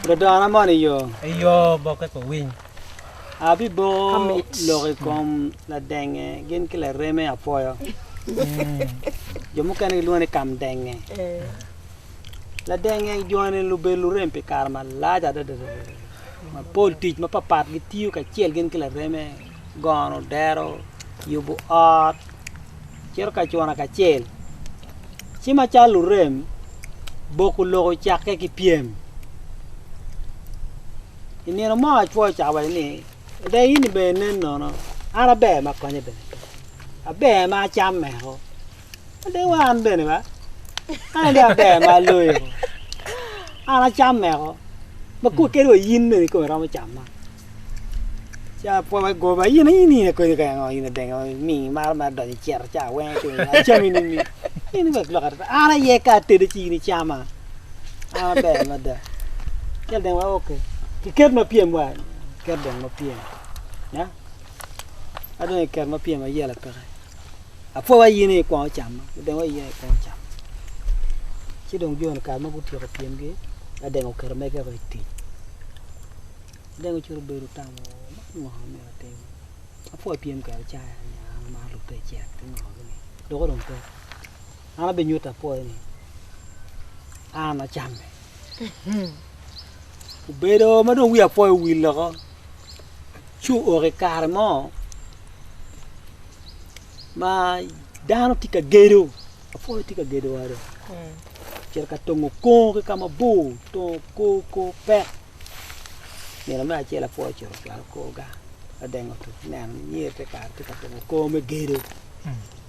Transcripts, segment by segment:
Ludona moni i yo. I yo boke ko winy. Abiboko lok i kom ladenge gin ki lareme apwoyo. jo mukene gilwongo ni kam denge. Ladenge joni lubedo lurem pi kare malac adada. Mapol tic mapapat gitiyo kacel gin ki lareme. gono dero, yubo ot, cito ka cwana kacel. Ci macalo lurem, boko lok ocakke ki pyem. I nino mo acwao ocako waco ni, Ada in bene inen nono, an aber ma konye bene, aber ma acam meko. Ade wa an bene ba. An ade aber ma aloyo. An acam meko. Ma kuwa kede wa yin bene kome romo cam ma. Ca pwa wa goba yin yin yin akonyo ka ngo yin adengo mi mar mar donyo cero ca weng tu acam ini mi. Yin ba lok ata. An aye ka atede ci yin icama. An aber mada. Kel deng wa oke. Kiket ma piem wa. Ket deng ma piem. Ya. Adonyo ket ma piem ayela peke. Apwowa yin i kwongo cam, adengo i yin i kwongo cam. Ci dong joni kare ma gutyeko pyemgi, adengo oketo megeko i tic. Adengo cito obedo otamo, man ngo ma myero atim? Apwowa pyem kwede caya ni an amaro lub pe ecek ki ngo gini. Doko dong pe. An abinyuto apwoya ni an acamme. Obedo ma dong wi apwoya owil woko. Ci ooko i kare mo ma dano tye ka gedo, lapwony tye ka gedo ode, ocito ka tongo kongo ki ka mabor, tongo kor kor pek. Nino me acel lapwony ocito ocwalo korga, ladengo otuc neno ni nyer te kare tye ka tongo kor me gedo.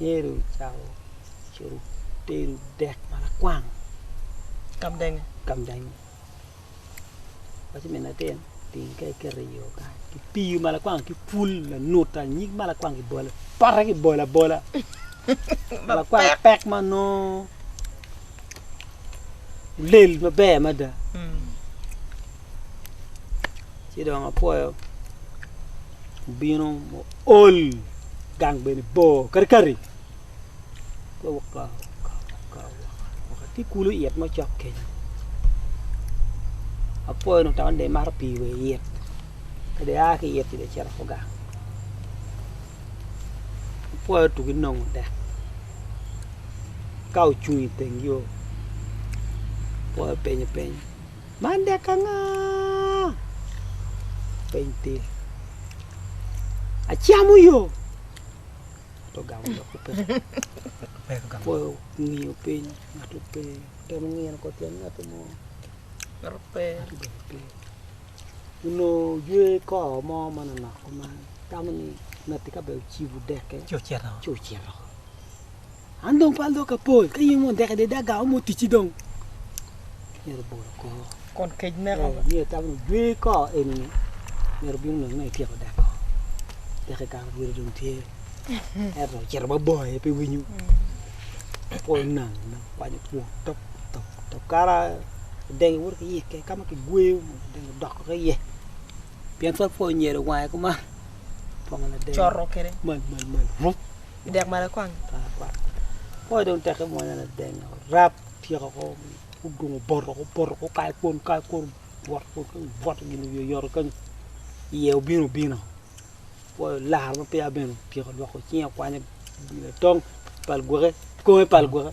Yecu ocako cito tedo dek ma lakwang kamdenge paco min latin otingo kek ki ringo ki pii ma lakwang ki pul lanuta nyig ma lakwang kibolo pote kibolo abola ma lakwang pek ma nongo lel maber mada. ci dong apwoyo obino muol gang bene bor karikari pe waka waka waka tye kulu it ma ocok kenyo apwoyo dong tamane dong imato pii wa i it ka dong ia ki it ci dong icito ki gang apwoyo tugi nongo tek ka ocung iteng yo apwoyo penyo piny. Man dek anga? Peny pe. Acamo yo. Ato gamo dok pe. Apoyo ngiyo piny. Ato pe. Temo ngiyo ko tyen ngati mo. Ato pe. Ato bene pe. Uno jwe ko mo ma nonok kuman. Tamo ni ngati ka be ocibo deke. Ci ocito. Ci ocito. An dong pe aloka pol, ka in wondeke de da gamo mo ticci dong. Myero bolo kor. Kun kec meko. Eh, myero tam ni jwe ko enini. Myero bino nongo ma ityeko dak ko. Deke kara bwere dong tye. Eto cito ma bor aye pe winyo. Apo nang nang kwanyo kwon top top top kara denge wot ki yike ka ma kigweyo denge doko ki iye. Pien twal pwony nyere wange kuma. Pongo na denge. Coro kede. Mal mal mal. Rup. dek ma lakwang. Kore dong tek ki mwanya na deng rap tyeko ko dong oboto oboto ko kayo kwon kayo kwon bwot bwot gin wiye oyoto kenyo iye obino obino kore olaro ma peya bene otyeko lwoko cinge okwanyo obino atong pal gwake konge pal gwake.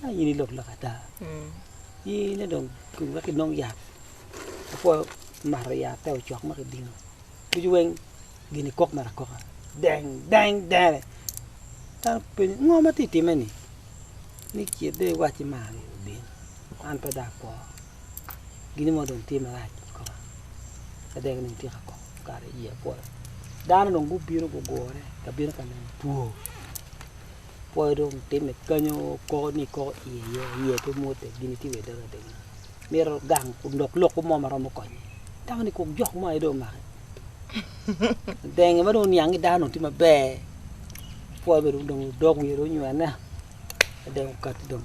ma in i lok lok ata in aye dong wek ki nong yat apwo mato yat te ocok ma ki dino ducu weng gin i kok mere akoka deng deng denge dano penyo ngo ma ti time ni ni kit dong i wacci mar ni obin an pe dong akwo gin mo dong tye marac akoka pe dong dong ityeka kok kare i iya pol dano dong gubino gugure ka bino ka neno two pwoyo dong timme kanyo koko ni koko iye yo iye pe mwote gin itimo iye doge adogi mito gang dok lok mo ma romo konye dako ni kong jok mo aye dong omake denge ma dong oniang ni dano dong tye maber pwoyo dong dok wiye dong onywene dong okati dong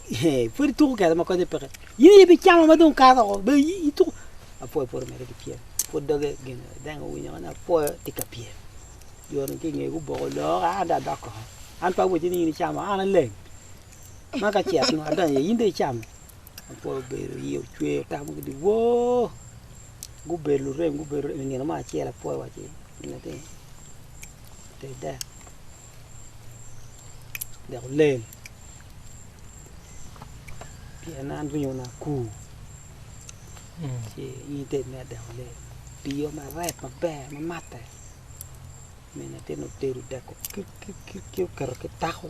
Pwod ituko kede ma konye peke. In aye ibicamo ma dong kato woko. Be ituko. Apwoyo pwod omedde ki pyem. Pwod doge gin deng owinyo ni apwoyo tye ka pyem. Jo ni ki ngeye guboko lok, an dong adok koko. An pe awaco ni in icamo, an aleng. Ma ka cet nwa adonyo iye, in dong icamo. Apwoyo obedo iye ocwer otamo gudi woo! Gubedo lurem gubedo lurem. I nino mo acel apwoyo owaco ni, Gin atir, ter dek. dok olel pien an ringo na akur ci in ited ma dok olel tiyo maber maber ma matte min latin otedo dako kit kit kit ci oketo ki tako.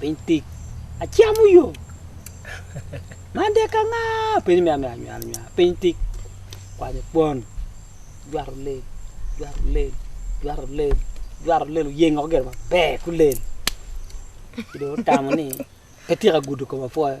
piny tic acamo yo man dek ka nga piny me amyero anywal anywal piny tic kwanyo kwon jwato lel jwato lel jwato lel jwato lel oyengo gire maber kulel ci dong otamo ni pe tyeka gudo kome pwoyo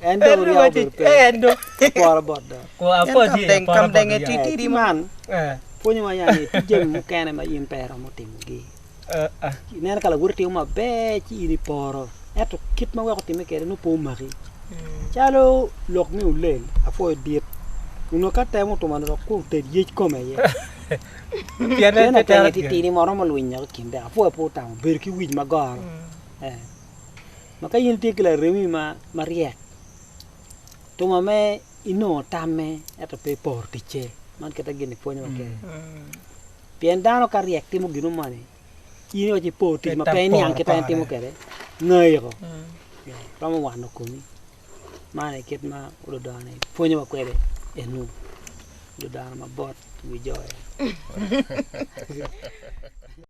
En dong oryako obedo pe. Apwora bot do. Kamdenge titidi man pwonyowa nya ni tye jami mukene ma in pe iromo timogi. Ineno ka lawoti timo maber ci in iporo ento kit ma weko otime kwede nongo pe omaki. Calo lok me ulel apwoyo dit onongo ka temo otuma ni dok kur ted yec kome iye. Pien en atenge titidi ma romo lwinyo ki kinde apwoyo pe otamo bedo ki wic ma goro. Ma ka in itye ki laremi ma maryek, tuma me inongo tamme ento pe iporo ticce. Man kite gin ni pwonyo wa kene. Pien dano ka ryek timo gino moni, in iwaco ipor tic ma pe iniang kita en timo kwede, ngayiko. Romo wano komi. Man aye kit ma ludano pwonyo wa kwede enu. Ludano mabot wi jo en.